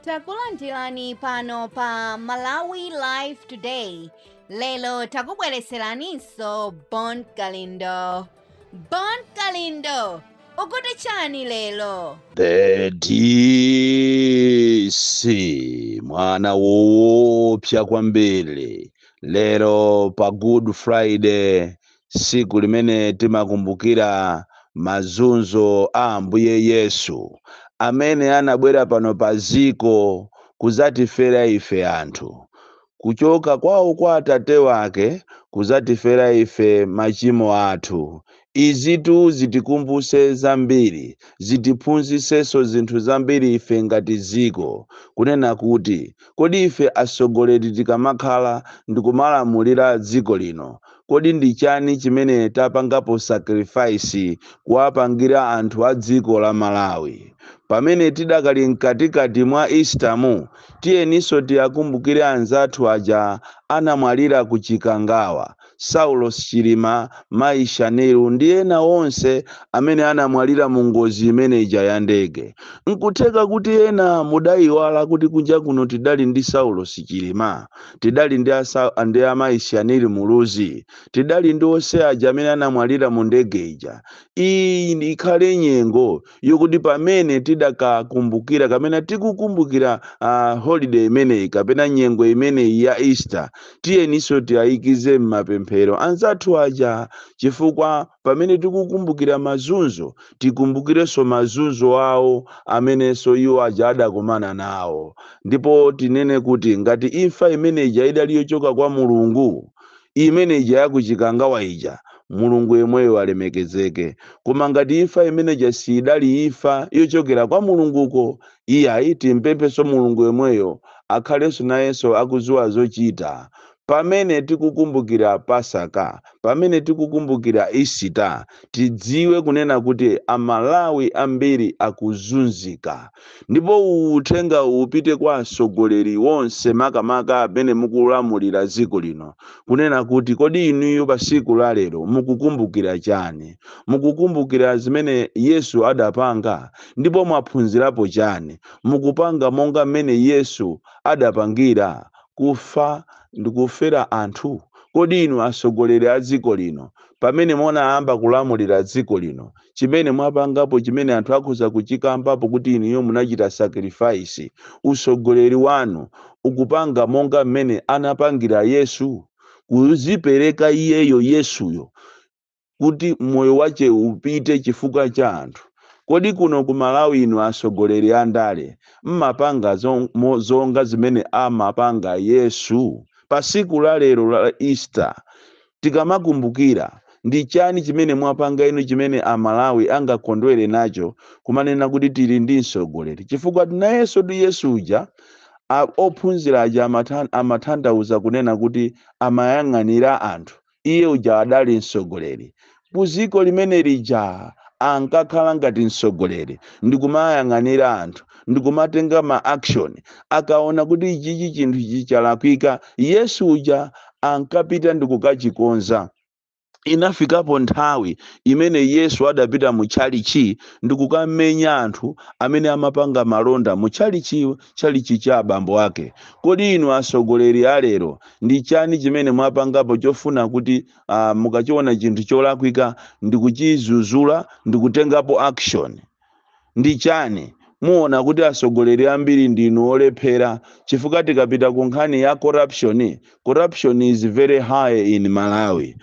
takulandirani pano pa malawi live today lero takubwereseraninso bon kalindo bon kalindo ukuti chani lero The DC mwana woopsa kwambiri lero pa Good Friday tsiku limene timakumbukira mazunzo a Ambuye Yesu, amene anabwera pano pa dziko kudzatifera ife anthu, kuchoka kwawo kwa Atate wake kudzatifera ife machimo athu. Izitu zitikumbutse zambiri, zitiphunzitsenso zinthu zambiri ife ngati dziko, kunena kuti, kodi ife atsogoleri tikamakhala ndikumalamulira dziko lino, Kodi ndi chani chimene tapangapo sacrifice kuwapangira anthu a dziko la Malawi? Pamene tidakali mkatikati mwa Easter mu, tiyeninso tiakumbukire anzathu aja anamwalira ku Chikangawa, Saulos Chilima, Mayi Shanil ndi ena onse amene anamwalira mu ngozi imene ija ya ndege. Nkutheka kuti ena mudaiwala kuti kunja kuno tidali ndi Saulos Chilima. tidali ndi amayi Shanil Muluzi, tidali ndi onse aja amene anamwalira mu ndege ija. Iyi ikhale nyengo yokuti pamene tidakakumbukira kapena tikukumbukira uh, holiday imeneyi kapena nyengo imeneyi ya Easter, tiyeninso tiayikize m'mapemphero anzathu aja chifukwa pamene tikukumbukira mazunzo, tikumbukirenso mazunzo awo amenenso iwo aja adakumana nawo. Ndipo tinene kuti ngati imfa imene ija idali yochoka kwa Mulungu, imene ija ya ku Chikangawa ija, Mulungu yemweyo alemekezeke. Koma ngati imfa imene ija siidali imfa yochokera kwa Mulunguko, iyayi, timpemphenso Mulungu yemweyo akhalenso nayenso akudziwa zochita, Pamene tikukumbukira Pasaka, pamene tikukumbukira Easter, tidziwe kunena kuti Amalawi ambiri akuzunzika. Ndipo uwu uthenga upite kwa atsogoleri onse makamaka amene mukulamulira dziko lino kunena kuti kodi inuyo pa tsiku la lero mukukumbukira chani? Mukukumbukira zimene Yesu adapanga? Ndipo mwaphunzirapo chani? Mukupanga monga mmene Yesu adapangira? kufa ndikufera anthu? Kodi inu asogoleri a dziko lino pamene munayamba kulamulira dziko lino chimene mwapangapo chimene anthu akhoza kuchikambapo kuti inuyo munachita sacrifice usogoleri wanu ukupanga monga mmene anapangira Yesu kuzipereka iyeyo Yesuyo kuti moyo wache upite chifukwa cha anthu kodi kuno ku malawi inu asogoleri a ndale mmapanga zonga zimene amapanga yesu pa siku la lero la easter tikamakumbukira ndi chani chimene mwapanga inu chimene a malawi angakondwere nacho kumanena kuti tili ndi msogoleri chifukwa nayenso tu yesu uja ophunzira aja amatanthauza kunena kuti amayang'anira anthu iye uja adali mtsogoleri kuziko limene lija ankakhala ngati mtsogoleri ndikumayang'anira anthu ndikumatenga ma action akaona kuti ichichi chinthu ichi chalakwika yesu uja ankapita ndikukachikonza inafikapo nthawi imene yesu adapita mu tchalichi ndikukamenya anthu amene amapanga malonda mu tchalichi tchalitchi cha abambo ake. Kodi inu atsogoleri a lero ndi chani chimene mwapangapo chofuna kuti ah, mukachiona chinthu cholakwika ndi kuchizuzula ndi kutengapo action? ndi chani muona kuti atsogoleri ambiri ndinu olephera chifukwa tikapita ku nkhani ya corruption corruption is very high in malawi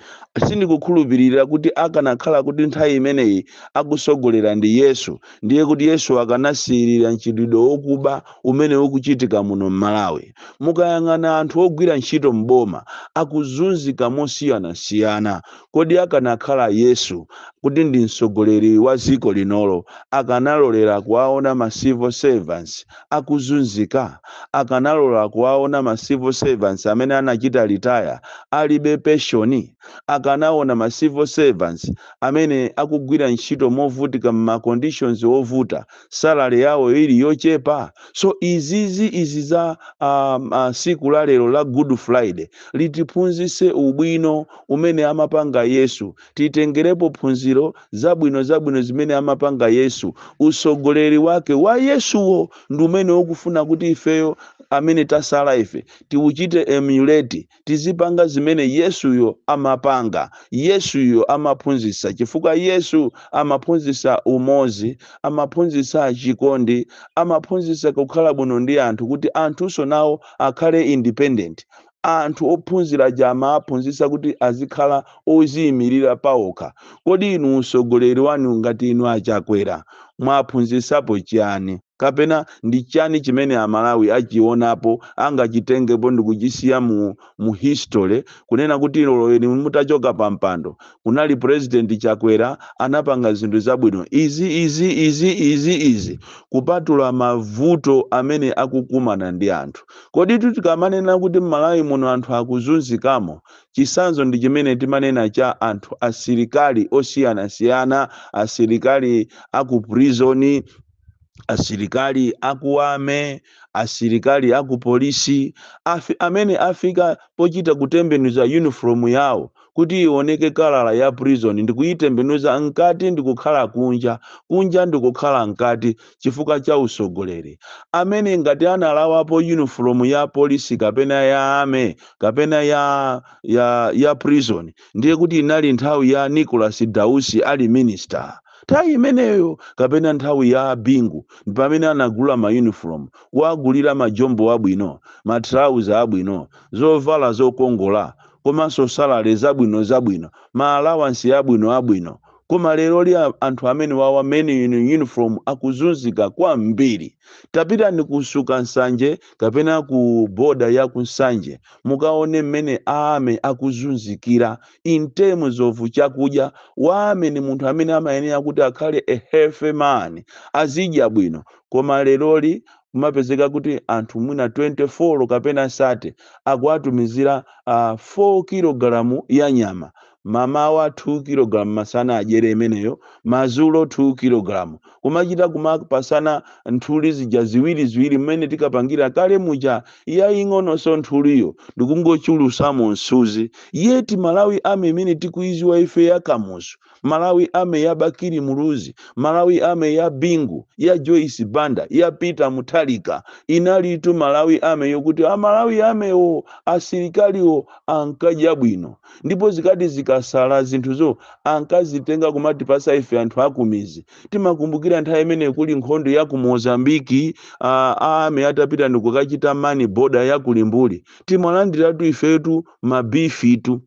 sindikukhulupirira kuti akanakhala kuti nthawi imeneyi akusogolera ndi yesu ndiye kuti yesu akanasiyirira mchitidwe wokuba umene ukuchitika muno mmalawi mukayang'ana anthu ogwira ntchito mboma akuzunzika mosiyanasiyana Kodi akanakhala Yesu kuti ndi mtsogoleri wa dziko linolo akanalolera kuwaona ma civil servants akuzunzika? Akanalolera kuwaona ma civil servants amene anachita retire alibe peshoni? Akanaona ma civil servants amene akugwira ntchito movutika mma conditions ovuta? salary yawo ili yochepa so izizi izi za um, uh, siku la lero la good friday litiphunzise ubwino umene amapanga yesu titengerepo phunziro zabwino zabwino zimene amapanga yesu usogoleri wake wa yesuwo ndi umene ukufuna kuti ifeyo amene tasala ife tiuchite emulate tizipanga zimene Yesuyo amapanga. Yesuyo amaphunzitsa chifukwa Yesu amaphunzitsa umodzi, amaphunzitsa chikondi, amaphunzitsa kukhala bwino ndi anthu kuti anthunso nawo akhale independent. Anthu ophunzira aja amawaphunzitsa kuti azikhala odziyimirira paokha. Kodi inu utsogoleri wanu ngati inu a Chakwera mwaphunzitsapo chiyani? kapena ndi chani chimene amalawi achionapo angachitengepo ndikuchisiya mu mu history kunena kuti olo inu mutachoka pa mpando kunali president chakwera anapanga zinthu zabwino izi izi izi izi izi kupatula mavuto amene akukumana ndi anthu koditu tikamanena kuti mmalawi muno anthu akuzunzikamo chisanzo ndi chimene timanena cha anthu asilikali osiyanasiyana asilikali aku prison asilikali aku army asilikali akupolisi afi, amene afika pochita kutembenuza uniform yawo kuti ioneke kalala ya prison ndikuitembenuza mkati ndikukhala kunja kunja ndikukhala mkati chifukwa cha usogoleri amene ngati analawapo uniform ya polisi kapena ya army kapena ya ya ya prison ndiye kuti inali nthawi ya Nicholas Dausi ali minister Nthawi imeneyo kapena nthawi ya a Bingu ndi pamene anagula ma uniform, kuwagulira ma jombo abwino, ma trouser abwino, zovala zokongola komanso salary zabwino zabwino, ma allowance abwino abwino. Koma leroli a, anthu amenewawa men in uniform akuzunzika kwambiri. Tapitani ku Suka Nsanje kapena ku border ya ku Nsanje mukaone mmene a army akuzunzikira in terms of chakudya wa army ndi munthu amene amayenera kuti akhale a healthy man azidya bwino koma leroli kumapezeka kuti anthu mwina 24 kapena 30 akuwatumizira uh, 4 kilogalamu ya nyama mamawa 2 kilogalamu masana adyere imeneyo mazulo 2 kilogalamu kumachita kumapasana nthuli zija ziwiri ziwiri mmene tinkapangira kale muja yaying'ononso nthuliyo ndikungochulusamo msuzi yet malawi army imene tikuiziwa ife ya kamuzu malawi army ya bakili muluzi malawi army ya bingu ya joyce banda ya peter mutharika inalitu malawi army yokuti a malawi army wo asilikaliwo ankadya bwino ndipo zikati zikasala zinthuzo ankazitenga kumatipasa ife anthu akumizi timakumbukira nthawi imene kuli nkhondo ya ku mozambiki a army atapita ndikukachita man border ya ku limbuli timalandiratu ifetu mabifitu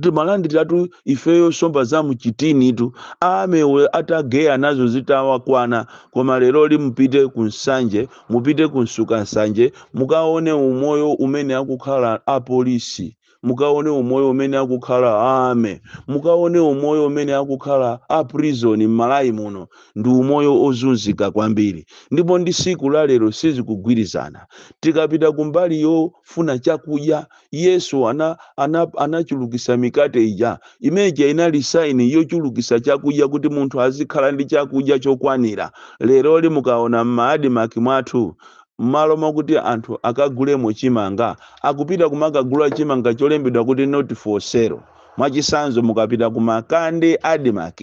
timalandiratu ifeyo somba za mchitinitu a army atageya nazo zitawakwana koma leroli mupite ku nsanje mupite ku nsuka nsanje mukaone umoyo umene akukhala apolisi mukaone umoyo umene akukhala ame mukaone umoyo umene akukhala a prison m'malawi muno ndi umoyo ozunzika kwambiri ndipo ndi siku la lero sizikugwirizana tikapita kumbali yofuna chakudya yesu ana, ana, anachulukisa mikate ija imeja inali saini yochulukisa chakudya kuti munthu azikhala ndi chakudya chokwanira leroli mukaona m'ma admarc mwathu mmalo mokuti anthu akagulemo chimanga akupita kumakagula chimanga cholembedwa kuti not for sale mwachisanzo mukapita ku makande admarc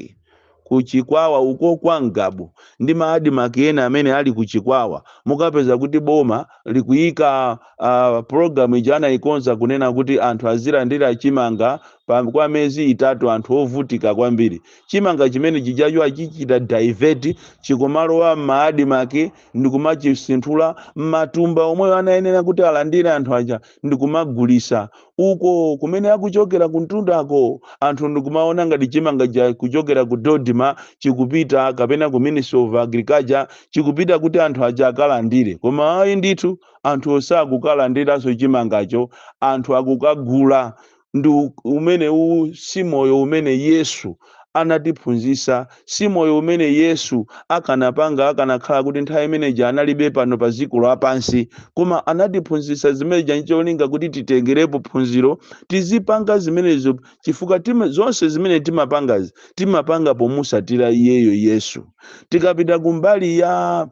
ku chikwawa uko kwa ngabu ndi ma admarc ena amene ali ku chikwawa mukapeza kuti boma likuyika uh, program ija anayikonza kunena kuti anthu azilandira chimanga pa, kwa mezi itatu anthu ovutika kwambiri chimanga chimene chijacho achichita divert chikumalowa m'ma admarc ndikumachisinthula matumba omwewo anayenera kuti alandire anthu aja ndikumagulisa uko kumene akuchokera kumtundako anthu ndikumaona ngati chimanga chakuchokera ku dodma chikupita kapena ku ministry of agriculture chikupita kuti anthu aja akalandire koma ayi ndithu anthu osakukalandiranso chimangacho anthu akukagula ndi u- umene uwu si moyo umene yesu anatiphunzitsa si moyo umene yesu akanapanga akanakhala kuti nthawi imeneja analibe pano pa dziko lapansi koma anatiphunzitsa zimeneja ncholinga kuti titengerepo phunziro tizipanga zimenezo chifukwa tima, zonse zimene timapangazi timapanga pomutsatira iyeyo yesu tikapita kumbali ya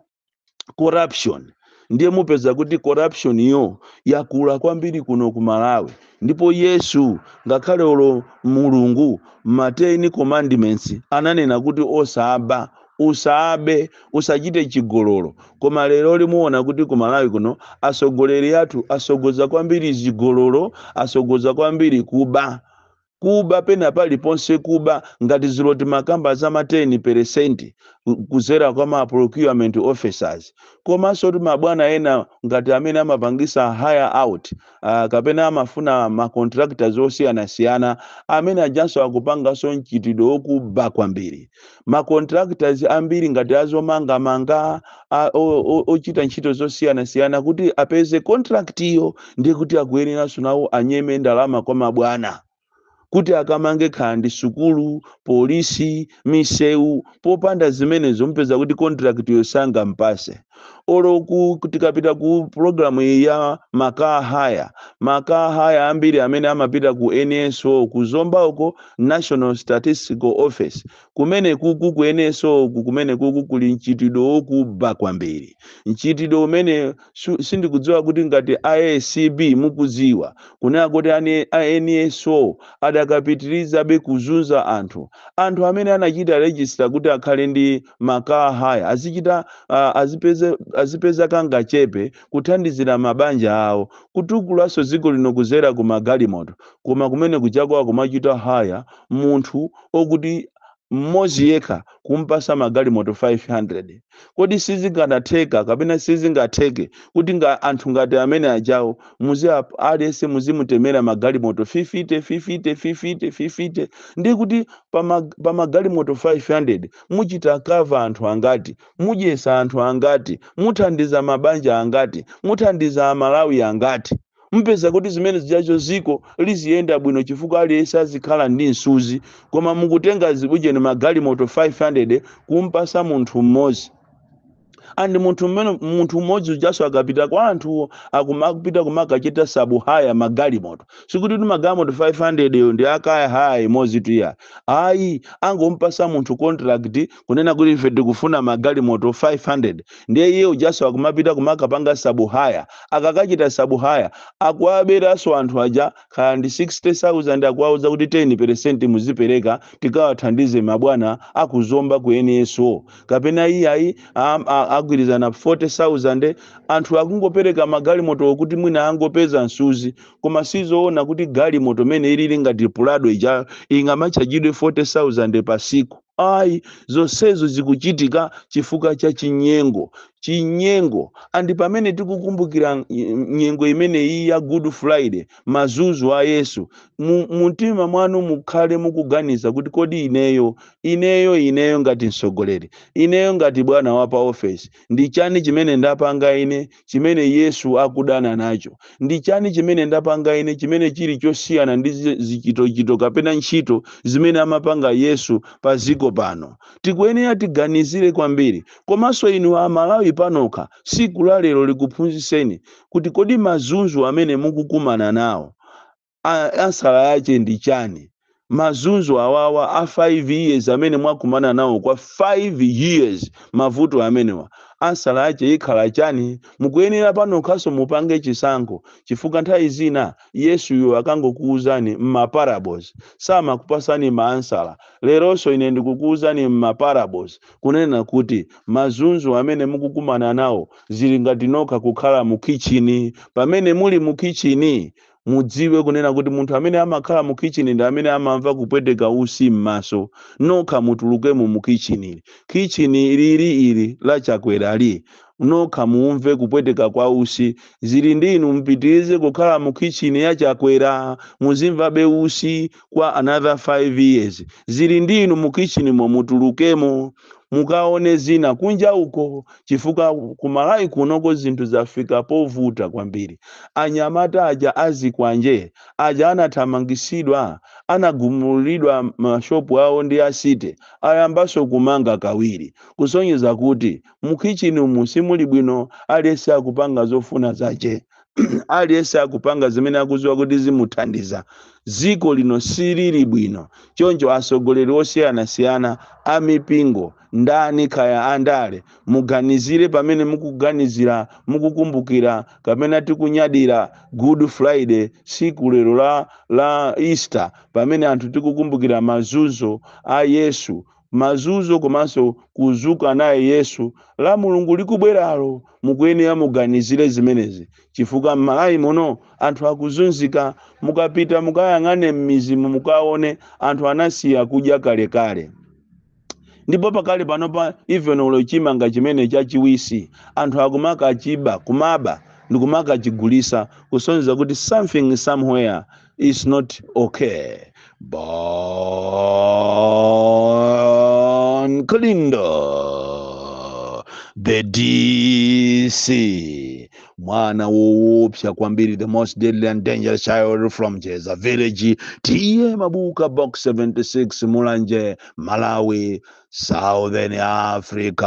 corruption ndiye mupeza kuti corruption yo yakula kwambiri kuno ku malawi ndipo yesu ngakhale olo mulungu ma 10 commandments ananena kuti osaba usabe usachite chigololo koma leroli muona kuti ku malawi kuno atsogoleri athu atsogoza kwambiri chigololo atsogoza kwambiri kuba Kuba pena paliponse kuba ngati dzulo timakamba za ma 10 percent kudzera kwa ma procurement officers komansoti mabwana ena ngati amene amapangitsa hire out kapena amafuna ma contractors osiyanasiyana amene ajanso akupanganso mchitidwe wokuba kwambiri. ma contractors ambiri ngati azomangamanga a- o- o- ochita ntchito zosiyanasiyana kuti apeze contract iyo ndiye kuti akuyeneranso nawo anyeme ndalama kwa mabwana kuti akamange kaya ndi sukulu polisi misewu popanda zimenezo mupeza kuti contract yo sangampatse olo ku tikapita ku program iyi ya ma car hire ma car hire ambiri amene amapita ku NSO ku Zomba uko national statistical office kumene kuku ku NSO uku kumene kuku kuli mchitidwe wokuba kwambiri mchitidwe umene su- sindikudziwa kuti ngati ACB mukudziwa kunena kuti ane- a NSO adakapitirizabe kuzunza anthu anthu amene anachita register kuti akhale ndi ma car hire azichita ah, azipeze azipeza kangachepe kuthandizira mabanja awo kutukulanso dziko lino kuzera ku magalimoto koma kumene kujako akumachita hire munthu okuti mmodzi yekha kumpasa magalimoto 500 Kodi sizikadatheka kapena sizingatheke kuti nga anthu ngati amene ajawo muzi ap- aliyense muzimutemera magalimoto 50 50 50 50 ndiye kuti pa ma- pa magalimoto 500 muchita cover anthu angati mudyesa anthu angati muthandiza mabanja angati muthandiza a Malawi angati mupeza kuti zimene zijazo dziko liziyenda bwino chifukwa aliyense azikhala ndi msuzi koma mukutenga zibujeni magalimoto 500 kumpasa munthu mmodzi and munthu mmene munthu mmodzi ujaso akapita kwa anthuwo akumapita kumakachita sub hire magalimoto sikuti kuti magalimoto 500 yo ndi a car hire imodzitu iya ayi angompasa munthu contract kunena kuti ife tikufuna magalimoto 500 ndiye iye ujaso akumapita kumakapanga sub hire akakachita sub hire akuwaberaso anthu aja kaya ndi 60000 akuwauza kuti 10 peresenti muzipereka tikawathandize mabwana a ku Zomba ku NSO kapena iyayi am- a- agwirizana 40000 anthu akungopereka magalimotowo kuti mwina angopeza msuzi koma sizoona kuti galimoto mene ilili ngati Prado ija ingamachajidwe 40000 pa siku ayi zonsezo zikuchitika chifukwa cha chinyengo chinyengo andi pamene tikukumbukira n- nyengo imeneyi ya Good Friday mazunzo a Yesu mu mu mtima mwanu mukhale mukuganiza kuti kodi ineyo ineyo ineyo ngati mtsogoleri ineyo ngati bwana wa pa ofesi ndi chani chimene ndapanga ine chimene Yesu akudana nacho. Ndi chani chimene ndapanga ine chimene chili chosiyana ndi zi- zichitochito kapena ntchito zimene amapanga Yesu pa dziko pano? Tikuyenera tiganizire kwambiri. Komanso inu a Malawi panokha, tsiku la lero likuphunzitseni kuti kodi mazunzo amene mukukumana nawo a ansala yache ndi chani mazunzo awawa a 5 years amene mwakumana nawo kwa 5 years mavuto amenewa ansala yache ikhala chani mukuyenera panokhaso mupange chisankho chifukwa nthawi zina yesuyo akangokuuzani mma parables samakupasani ma ansala leronso ine ndikukuuzani mma parables kunena kuti mazunzo amene mukukumana nawo zili ngati nokha kukhala mu khitchini pamene muli mu khitchini mudziwe kunena kuti munthu amene amakhala mu kitchen ndi amene amamva kupweteka usi m'maso nokha mutulukemo mu kitchen ili kitchen lili ili la chakwerali nokha muumve kupweteka kwa usi zili ndi inu mupitirize kukhala mu kitchen ya chakwera muzimvabe usi kwa another 5 years zili ndi inu mu kitchenmo mutulukemo mukaone zina kunja uko chifukwa kumalawi kunoko zinthu zafika povuta kwambiri anyamata aja azikwanje aja anathamangisidwa anagumulidwa mashopu awo ndi asite ayambaso kumanga kawiri kusonyeza kuti mukhichini umu simuli bwino aliyense akupanga zofuna zache aliyense akupanga zimene akuziwa kuti zimuthandiza dziko lino silili bwino choncho atsogoleri osiyanasiyana a mipingo ndani kaya andale muganizire pamene mukuganizira mukukumbukira kapena tikunyadira good friday tsiku lero la easter pamene anthu tikukumbukira mazunzo a yesu mazunzo komanso kuzuka naye yesu la mulungu likubweralo mukuyenera muganizire zimenezi chifukwa m'malawi muno anthu akuzunzika mukapita mukayang'ane m'mizimo mukaone anthu anasiya kudya kalekale ndipo pakali panopa even olo chimanga chimene chachiwisi anthu akumakachiba kumaba ndikumakachigulisa kusonyeza kuti something somewhere is not okay. Bon Kalindo, the DC, mwana woopsa kwambiri, the most deadly and dangerous child from Jeza village, TM Mabuka box 76 Mulanje, Malawi, Southern Africa.